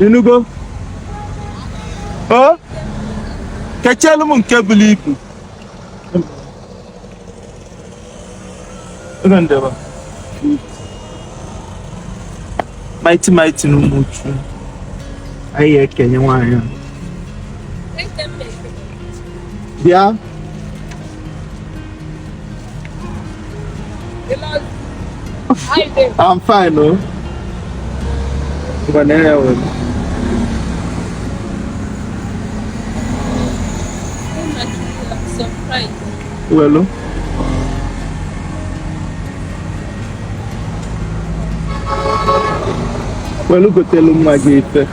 inugo o kechelu m nke bulu ibu ego nde be Mighty Mighty na Umuchu anyị ekenye nwaanyị a bịa I'm fine, no? Oh. Banana. Well, oh. welu gotelu nwa gị ife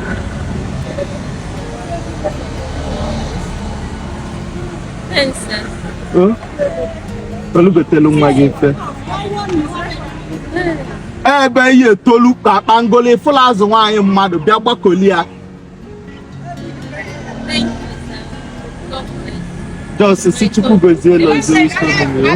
Thanks, sir. Huh? welu gotelu nwa gị ife ebe ihe etolu ka akpangolo fụlụ azụ nwaanyị mmadụ bịa gbakoli ya just si chukwu gozie ụlọ zuru isi omume ya.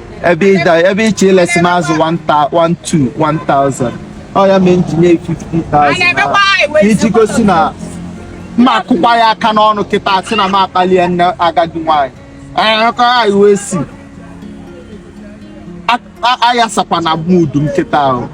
ebe ịda ebe ị chọ ilesi m azụ 1000 ọ ya mee nji nye 50000 iji gosi na mma akụkwa ya aka n'ọnụ kịta si na m akpalie nne agadi nwaanyị akọ anyị wee si ayasakwana mood m kịta ahụ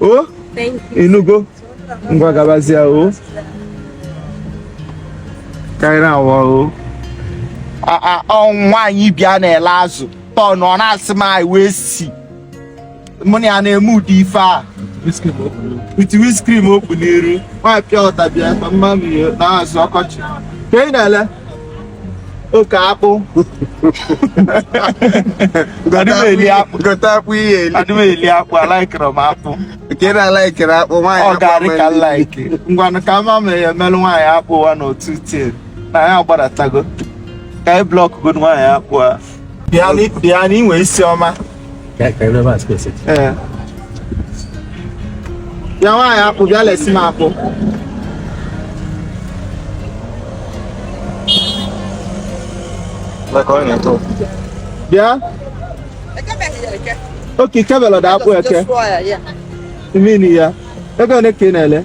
o oh, inugo ngwa gabazie o oh. karịrị awa o oh. ọnwụ nwaanyị bịa na-ele azụ tọn ọ na-asị m anyị wee si mụ na ya na-eme ụdị ife a iti wiskrim okpu n'iru nwaanyị pịa ọta bịa mama m na-azụ ọkọchị ka ị na-ele okay akpụ adị m eli akpụ gote akpụ ihe eli adị m eli akpụ alikere m akpụ nke na alikere akpụ nwaanyị ọ ga-arị ka like ngwanụ ka ama mere ya emelụ nwaanyị akpụ wa n'otu tie na ya gbadatago ka anyị block godo nwaanyị akpụ a bịa na i nwe isi ọma ya nwaanyị akpụ bịa lesi m akpụ bịa okay kebelọ da akpụ eke mmiri ya ego ole ka ị na-ele